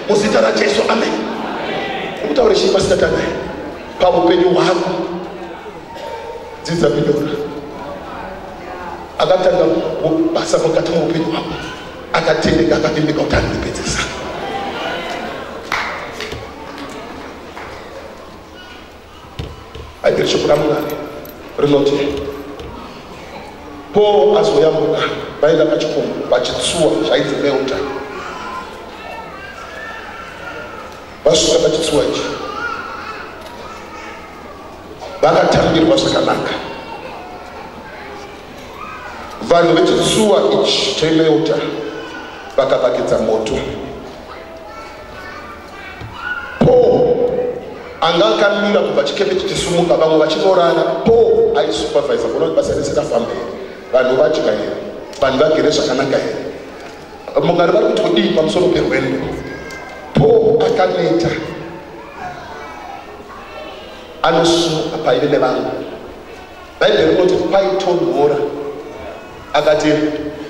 muzita rajesu amen ukutaure chii pasitatanai paupenyu hwako dzidza kunyora akatanga basa mukati moupenyu hwako akatendeka akatendeka kuti anondipedzesa aiberi shoko ramwari rinoti paul azoyambuka vaenda pachikomo pachitsuwa zvainzi melta vasvika pachitsuwa ichi vakatambirwa zvakanaka vanhu vechitsuwa ichi chemeuta vakavakidza moto paul anga akamira kubva chikepe chichisumuka vamwe vachinorara paul aisupervisa kuona kuti basa rese rafamba here vanhu vadya here vanhu vagere zvakanaka here mungari vari kuti kudii pamusoro perwendo paul akaneta anosumuka paive nevanhu bhaibheri rinoti kwaitonhora akati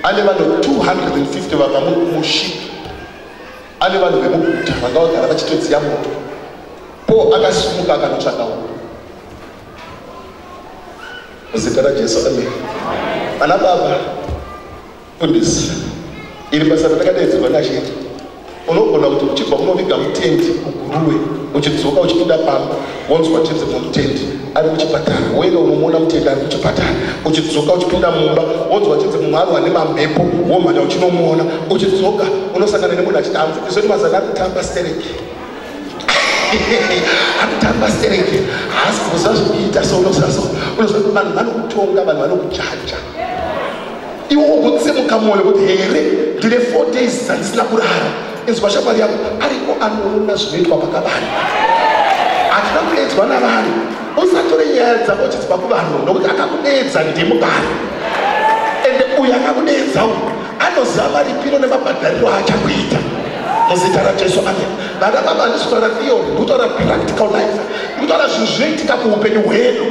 ane vanhu 250 vanga mushipi ane vanhu vemuguta vanga vagara vachitodziya moto po akasumuka akanotsvaka uko muzita rajesu amen vana baba Goodness. Iri basa ratakadaidzirwa nachete. Unogona kuti uchibva munoviga mutendi kuguruwe uchidzoka uchipinda pamba wonzwa chinzi mutendi ari kuchipatara wena unomuona mutendi ari kuchipatara uchidzoka uchipinda mumba wonzwa chinzi mumwe aro ane mamhepo womhanya uchinomuona uchidzoka unosangana nemunhu achiti hanzi izoti mazana ari kutamba stereki anotamba stereki haasi kuza zvekuita so unozaso unoza vanhu vanokutonga vanhu vanokujaja iwe wokutsimuka mwoyo kuti here ndine four days dzandisina kurara inzwa shamwari yako ariko anoona zvinoitwa pakavani hatina kuedzwa navanhu usatore nyaya dzako chidzipa kuvanhu nokuti akakudeedza ndimubari ende uyo akakudeedza uyu anoziva maripiro nemabhadhariro aachakuita muzita rajesu amen vana baba handisi kutaura theory ndikutaura practical life ndikutaura zvinhu zvinoitika kuupenyu hwedu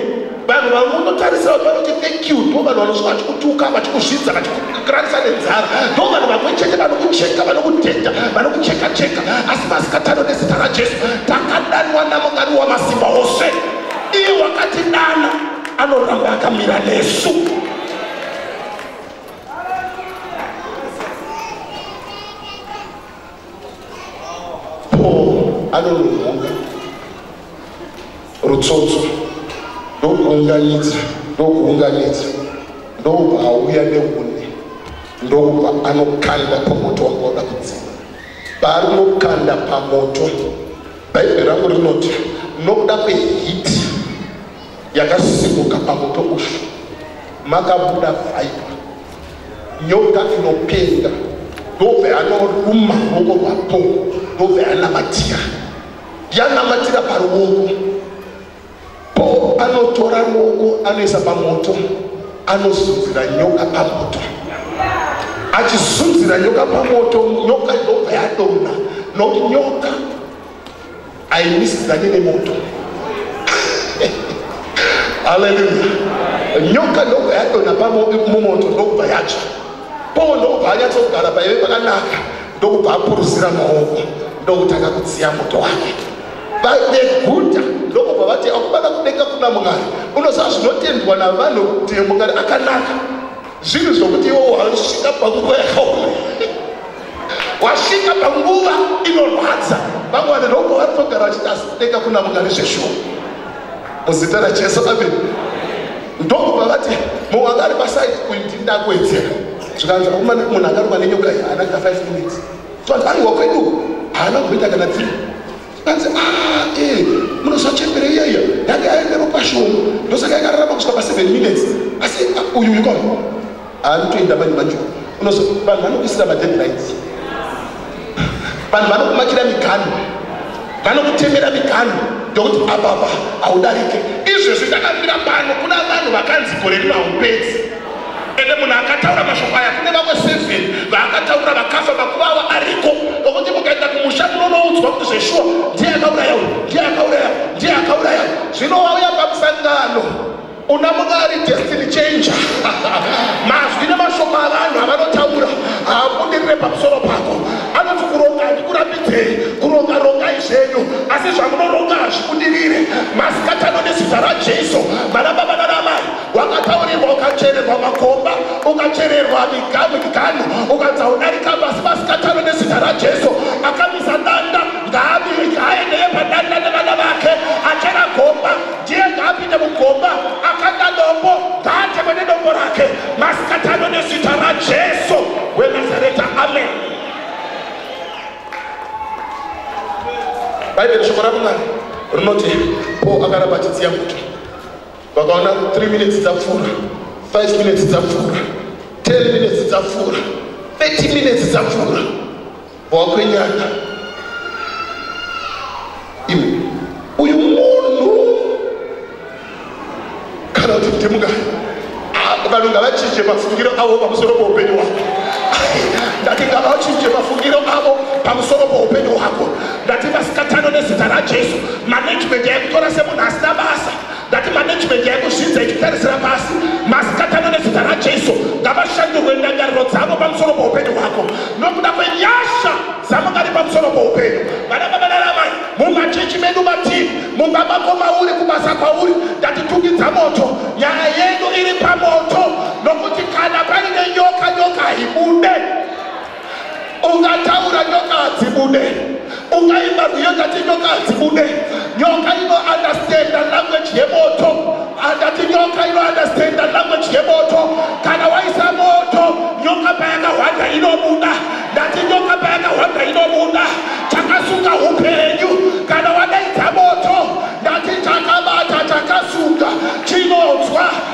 vanhu vamwe unotarisira kuti vanoti thank you ndo vanhu vanosvika vachikutuka vachikuzvidza vachikuranisa nenzara ndo vanhu vamwe chete vanokucheka vanokudhenda vanokucheka cheka asi masikatano nezita rajesu takadanwa namwari wamasimba ose iye wakatidana anoramba akamira nesu Paul anonohonga rutsotso ndokuunganidza ndokuunganidza ndobva auya neune ndobva anokanda pamoto wanga wada kudzima paanokanda pamoto bhaibheri rangu rinoti nokuda kwehiti yakasimuka pamoto ushu makabuda vaipa nyoka inopenga ndobva yanoruma ruoko rwapo ndobva yanamatira yanamatira paruoko po anotora ruoko anoisa pamoto anozunzira nyoka pamoto achizunzira nyoka pamoto nyoka ndobva yadona nokuti nyoka aimisidzane nemoto haleluya nyoka ndobva yadona pamumoto ndokubva yatsva poo ndokubva anyatsogara paive pakanaka ndokubva apuruzira maoko ndokutanga kudziya moto wake vadeguta ndokubva vati akubada kudenga kuna mwari unoziva zvinotendwa navanhu kuti mwari akanaka zvinhu zvokuti iwo wasvika panguva yakaoma wasvika panguva inorwadza vamwe vanhu ndobva vatogara vachiti asi kudenga kuna mungari zveshuwa muzita rajesu amen ndokubva vati mumwe anga ari pasaidi uyu ndindakuedzera zvikanzi akumana munhu akaruma nenyoka iyi haana kana five minutes so vanhu vanhu wakwedu haana kuita kana three Anzi ah eh munoziva chembere iya iya yange aende ropa shoma ndosaka yakararama kusvika pa 7 minutes asi ah, uyu uyu kona anotoenda mani manje unozo vanhu vanokuisira ma deadlines vanhu vanokumakira miganhu vanokutemera miganhu ndokuti apapa haudarike izvezvi ndakambira pano kuna vanhu vakanzi gore rino haupedzi ende munhu akataura mashoko aya kune vamwe seven vaakataura vakafa makuva avo ariko okuti mukaenda kumusha munonoudzwa kuti zveshuwa ndiye akauraya uyu ndiye akauraya ndiye akauraya zvino wauya pamusangano una munhu ari destiny changer mazwi nemashoko avanhu avanotaura haabudirire pamusoro pako anoti kuronga handikurambidzei kuronga rongai zvenyu asi zvamunoronga hazvikudirire masikatano nezita rajesu vanababa nanamai wakataurirwa ukachererwa makomba ukachererwa miganhu miganhu ukadza udarika pasi pasikatano nezita rajesu akamisa danda ngaaendeye padanda nevana vake achera gomba ndiye ngaapinde mugomba akanda dombo ngaatekwe nedombo rake masikatano nezita rajesu wenazareta amen bhaibheri shoko ramwari rinoti po akaramba achitsiya muto vakaona 3 minutes dzapfuura 5 minutes dzapfuura 10 minutes dzapfuura 30 minutes dzapfuura bwakwenyana iwe uyu munhu kana kuti kuti munga vanhu ngavachinje mafungiro avo pamusoro poupenyu hwako ndati ngavachinje mafungiro avo pamusoro poupenyu hwako ndati vasikatano nezita rajesu management yakutora semunhu asina basa ndati management yaikuzvidza ichitarisira pasi masikatano nezita rajesu ngavashandurwe ndangariro dzavo pamusoro poupenyu hwako nokuda kwenyasha dzamukari pamusoro poupenyu vana vavanaramai mumachechi medu mativi mumba mako mauri kubasa kwauri ndatitungidza moto nyaya yedu iri pamoto nokuti kana paine nyoka nyoka haibude ungataura nyoka hadzibude ungaimba rwiyo ndati nyoka hadzibude nyoka inoundestanda language yemoto andati nyoka inoundestanda language yemoto kana waisa moto nyoka payakahwanda inobuda ndati nyoka payakahwanda inobuda takasunga upenyu kana wadaidza moto ndati takabata takasunga chinonzwa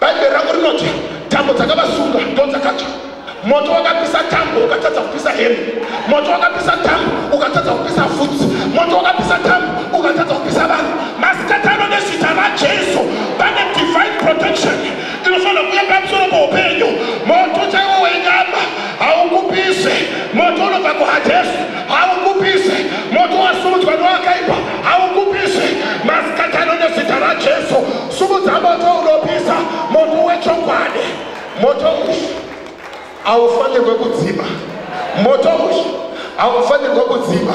Bhaibheri rangu rinoti tambo dzakavasunga ndo dzakatsva. Moto wakapisa tambo ukatadza kupisa hembe. Moto wakapisa tambo ukatadza kupisa vhudzi. Moto wakapisa tambo ukatadza kupisa vanhu. Masikati ano nezita raJesu pane divine protection inofanira kuuya pamusoro poupenyu. Moto chaiwo wenyama haukupise. Moto unobva kuHadesi haukupise. Moto wasumudzwa newakaipa haukupise. Masikati ano nezita raJesu Sumudza moto unopisa, moto wechokwadi. Moto uyu haufanirwe kudzima. Moto uyu haufanirwe kudzima.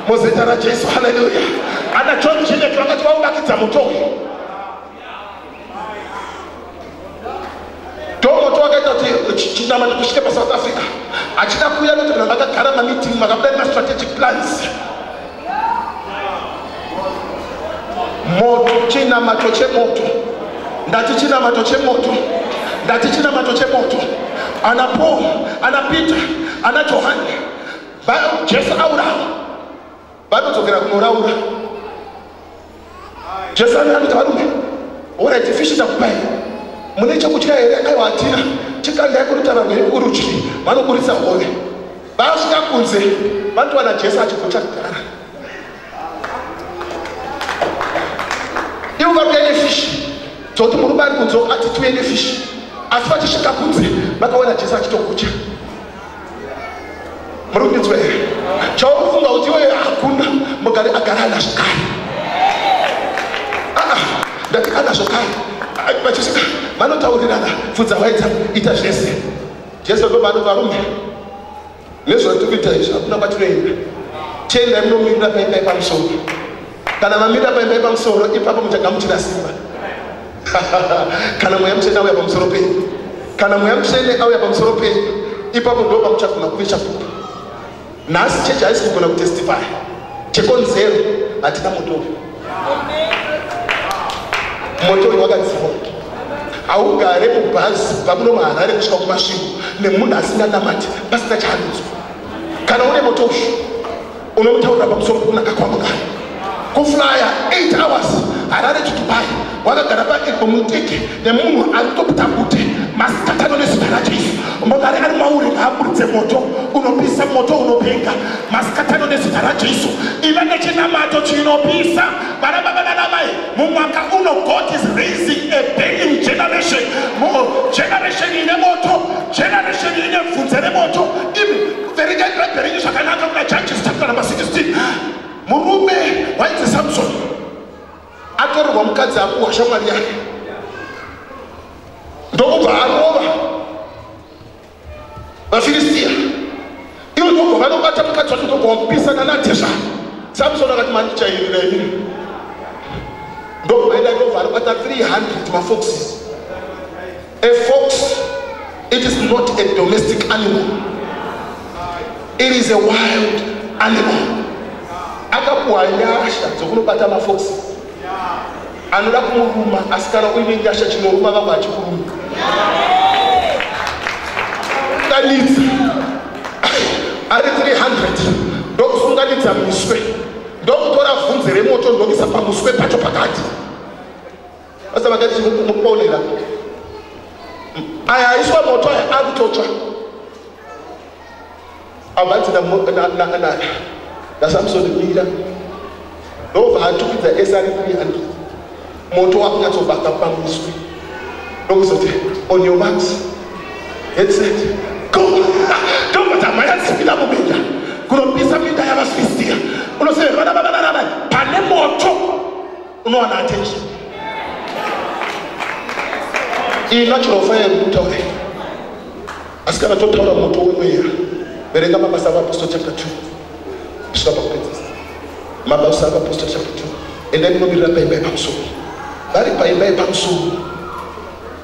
Muzita raJesu, haleluya. Ana John Jeanette vakati vaunakidza moto uyu. Tongo to akaita kuti chinama ndikusvike paSouth Africa achida kuuya kuti vanhu vakagara mameeting makabuda nemastrategic plans moto chinamato chemoto ndati chinamato chemoto ndati chinamato chemoto ana paul ana peter ana johani jesu aurawa vanodzokera kunoraura jesu anaa kuti varume orit fishi takupai mune chekutya here aiwa hatina chikandai kurutava rwekurudyi vanoburitsa hove vasvika kunze vanotowana jesu achigota kugara ivo vakuya nefishi dzoti murume ari kunzo ati tuye nefishi asi vachisvika kunze vakaona jesu achitokutya muri kundinzwa here chaufunga kuti iwe hakuna mugari agara ana zvekare aa ndati ana zvekare vachisvika vanotaurirana pfudza waita ita zvese jesu ndo vanhu varume nezvatiri kuita izvi hakuna kwatinoenda tiendai munomirira paipai pamusoro kana mamira paimba yepamusoro ipapo muchagamuchira simba kana mweya mutsvene auya pamusoro penyu kana mweya mutsvene auya pamusoro penyu ipapo ndo pamuchagona kuve chapupu nhasi chechi haisi kugona kutestify chekonzero hatina motori motori wakadziwa haugare mubhazi kubva kuno maharare kusvika kumasvingo nemunhu asinganamati pasina chaanonzwa kana une motori unotaura pamusoro pokunaka kwangu kani kuflaya 8 hours harare to dubai wakagara paepo muteke nemunhu ari kutobuta bute masikatano nezita rajesu mokare ari mauri ngaaburitse moto unopisa moto unopenga masikatano nezita rajesu iva nechinamato chinopisa vana baba vana mai mumwaka uno god is raising a burning generation generation ine moto generation ine bvunze remoto verengai bhaibheri renyu zvakanaka kuna judges chapter number 16 murume wainzi samson atorerwa mukadzi akuwa shamwari yake ndokubva arova vafiristiya ivo ndokubva vanobata mukadzi wacho ndokubva wakupisana natesva samson akati mani chairira ini ndokubva ida ndokubva anobata 300 mafoxes A fox, it is not a domestic animal. It is a wild animal. Akapuwa nyasha dzokunobata mafox. Anoda kumuruma asikana uine nyasha chinoruma vamwe achikuruma. Kanitsa ari 300 ndokusunganidza muswe ndokutora vhunze remoto ndokisa pamuswe pacho pakati Basa vakati mukuponera. Aya aiswa moto aya akutotsva. Abati na na na na. Na Samson mira. Ndobva atukidza ese ari kuri andi. Moto wakunyatsobaka pamuswi. Ndokuzoti on your marks. Head set. Go. Ndobva dzamhanya dzipinda mubinda. Kunopisa minda yavasvisiya. Unoseverwa na baba na baba. Pane moto. unowana attention iyi natural fire yekutaura asi kana totaura moto wemweya verenga mabasa avapostle chapter 2 kusvika pakupedzisa mabasa avapostle chapter 2 endai munomirira paimba yepamusoro vari paimba yepamusoro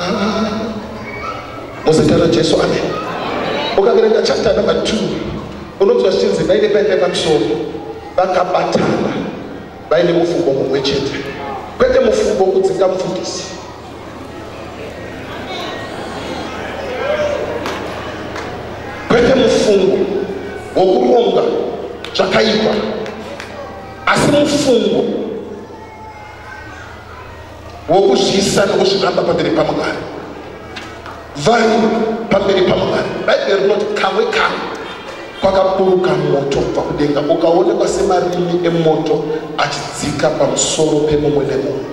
Ah, muzita rajesu amen ukaverenga chapter number two unonzwa zvichinzi vaine vaine pamusoro vakabatana vaine mufungo mumwe chete kwete mufungo kudzinga mufundisi kwete mufungo wokuronga zvakaipa asi mufungo wokuzviisa nokuzviramba pamberi pamwari vari pamberi pamwari bhaibheri rinoti kamwe kamwe kwakaburuka moto kubva kudenga ukaonekwa semarimi emoto achidzika pamusoro pemumwe nemumwe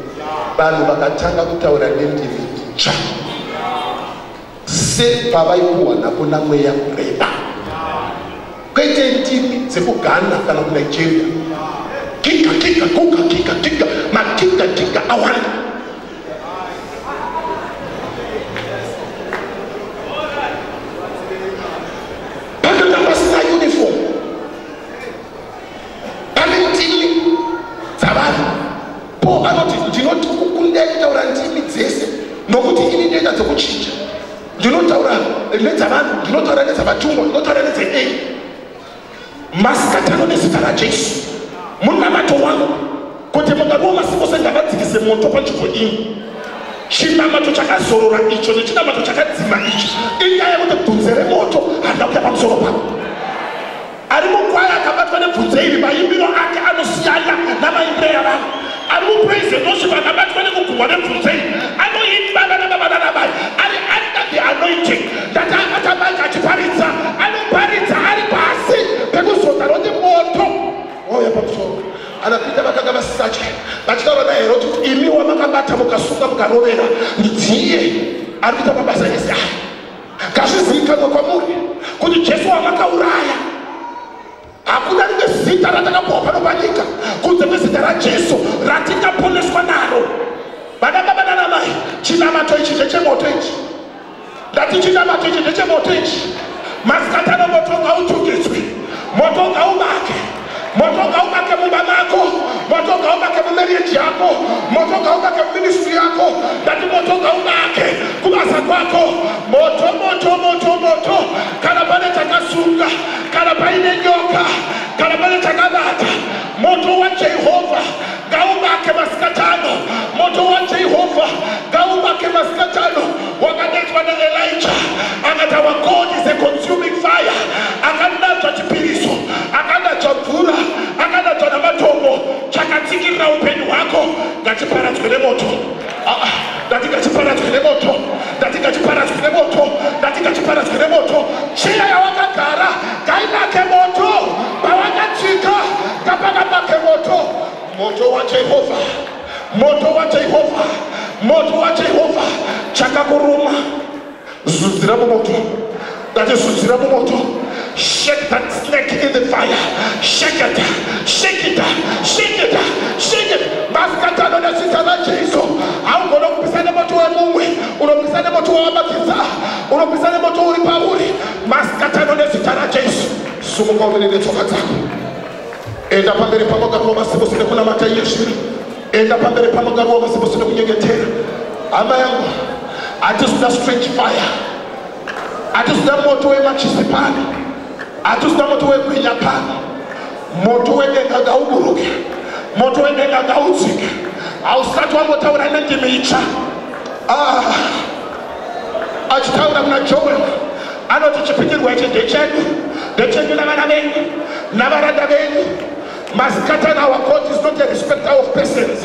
vanhu vakatanga kutaura nendimi tsva sepavaipuwa napo namweya kureba kwete ndimi dzekugana kana kunigeria kika kika kuka kika kika makika kika awanda Paul anoti, Ndinoti kukundai kutaura ndimi dzese, nokuti ini ndoita dzokuchinja. Ndinotaura nedzavanhu, ndinotaura nedzavatungwa, ndinotaura nedzeei. Masikatano nezita raJesu, munamato wangu kuti mungadiwo masipo sengavadzikise moto panzvimbo iyi chinamato chakazorora icho nechinamato chakadzima icho inyaya yekuti bvunze remoto handina kuya pamusoro pavo ari mukwaya akabatwa nebvunze iri maimbiro ake anosiyana namaimbiro yavanhu ari mupraise worship akabatwa nekugumwa nebvunze iri anoimba vana baba nana mai ari under the anointing ndati abata mike achiparidza anoparidza ari pasi pekuzodza roti moto wauya pamusoro anapinda vakanga vasisatya vachitaura naye roti imi wamakabata mukasunga mukarovera ndidziye ari kuita mabasa ese aya ngazvizivikanwe kwamuri kuti jesu wamakauraya hakuna rimwe zita ratakapuwa pano panyika kunze kwezita rajesu ratingaponeswa naro vana baba nana mai chinamato ichi ndechemoto ichi ndati chinamato ichi ndechemoto ichi masikatano moto ngautungitswi moto ngaubake moto ngauvake mumba mako moto ngauvake mumarriage yako moto ngauvake muministry yako ndati moto ngauvake kubasa kwako moto moto moto moto kana pane chakasunga kana paine nyoka kana pane chakabata moto wajehovha ngauvake masikatano moto wajehovha ngauvake masikatano wakanetswa naelija akati our god is a consuming fire akandatswa chipiriso akandatswa mvura akandatswa namatombo chakatsikirira upenyu hwako ngachiparadzwe nemoto ah, ah, ndati ngachiparadzwe nemoto ndati ngachiparadzwe nemoto ndati ngachiparadzwe nemoto chiya yawakagara ngainake moto pawakatsika ngapakapake moto moto wajehovha moto wajehovha moto wajehovha chakakuruma zudzira mumoto ndati zudzira mumoto shake that snake in the fire shake it shake it shake it shake it masikati anoda zita rajesu haugona kupisa nemoto wemumwe unopisa nemoto wawamakiza unopisa nemoto uri pauri masikati anoda zita rajesu sumuka umene netsoka dzako enda pamberi pamugaro wamasimusi nekunamata iye zviri enda pamberi pamugaro wamasimusi nekunyengetera hama yangu hatizida strange fire hatizida moto wemachisi pano hatizida moto wegwinya pano moto wedenga ngauburuke moto wedenga ngaudzike hausati wangotaura nendimi itsva ah. achitaura muna joel anoti chipikirwa ichi ndechedu ndechedu navana venyu navaranda venyu masikatana our court is not a respecter of persons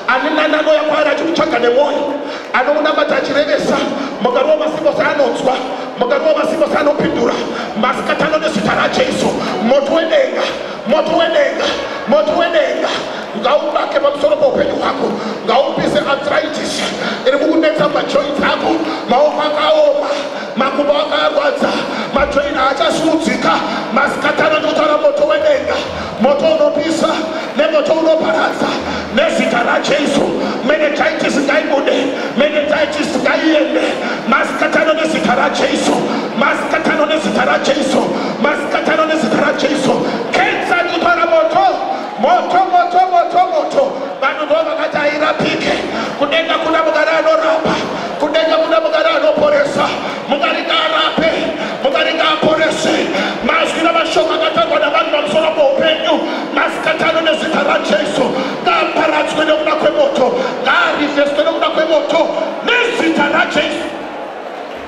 ani nani anoya kwaari achikutsvaga nemwoyo anomunamata achirevesa mugari wamasimbose anonzwa mugari wamasimbose anopindura masikatano nezita rajesu moto wedenga moto wedenga moto wedenga ngaubake pamusoro poupenyu hwako ngaupise arthritis iri kukunetsa majoint ako maoko akaoma makumbo akarwadza majoint haachasuudzika masikatana ndokutaura moto wedenga moto unopisa nemoto unoparadza nezita rajesu menetitis ngaibude menetitis ngaiende masikatano nezita rajesu masikatano nezita rajesu Masikatano nezita raJesu, kensa ndipara moto, moto, moto, moto, moto. Vanhu ndo vakati hairapike. Kudenga kuna mugari anorapa, kudenga kuna mugari anoporesa. Mugari ngaarape, mugari ngaaporese. Mazwi namashoko akatangwa navanhu pamusoro poupenyu, masikatano nezita raJesu, ngaaparadzwe nekuda kwemoto, ngaarivheswe nekuda kwemoto, nezita raJesu.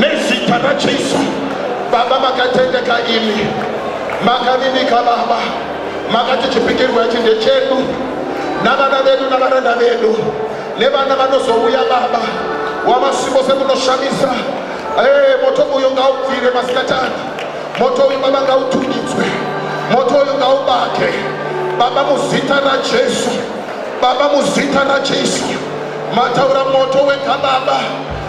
nezita rajesu baba makatendeka imi makavinika baba makati chipikirwa ichi ndechedu navana vedu navaranda vedu nevana vanozouya baba wamasipo sekunoshamisa ee eh, moto uyo ngaubvire masikatani moto uyu baba ngautungidzwe moto uyu ngaubake baba muzita rajesu baba muzita rajesu mataura moto wega baba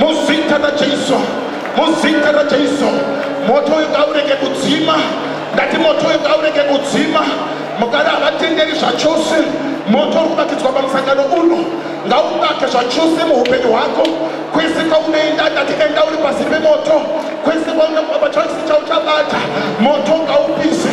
muzita rajeiso muzita rajeiso moto uyu ngaurege kudzima ndati moto uyu ngaurege kudzima mugari havatenderi zvachose moto uri kuvakidzwa pamusangano uno ngauvake zvachose muupenyu hwako kwese kwaunoenda ndati enda uri pasi pemoto kwese kwaunoaachauchabata moto ngaupise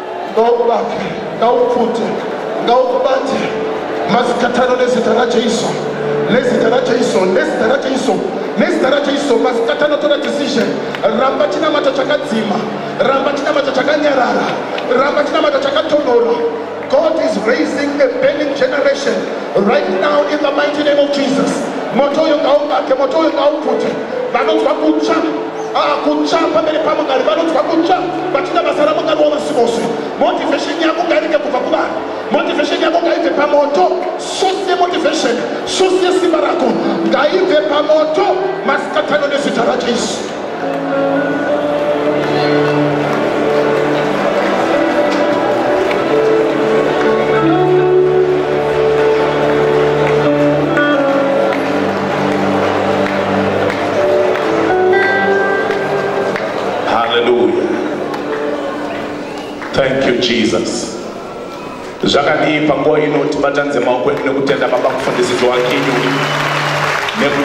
ngaukubate ngaupfute ngaukubate masikatano nezita rajesu nezita rajesu nezita rajesu nezita rajesu masikatano tora decision ramba chinamata chakadzima ramba chinamata chakanyarara ramba chinamata chakatonora god is raising a burning generation right now in the mighty name of jesus moto uyo ngaubake moto uyo ngaupfute vanonzwa kutsva Ah, kutsva pamberi pamugari vanonzwa kutsva vachida basa ramugari wamasimusi motivation yako ngairike kubva kuvanhu motivation yako ngaibve pamoto source yemotivation source yesimba rako ngaibve pamoto masikatano nezita rajesu haleluya thank you jesus zvakadii panguva ino tibatanidze maoko edu nekutenda baba mufundisi joakinyu nekuti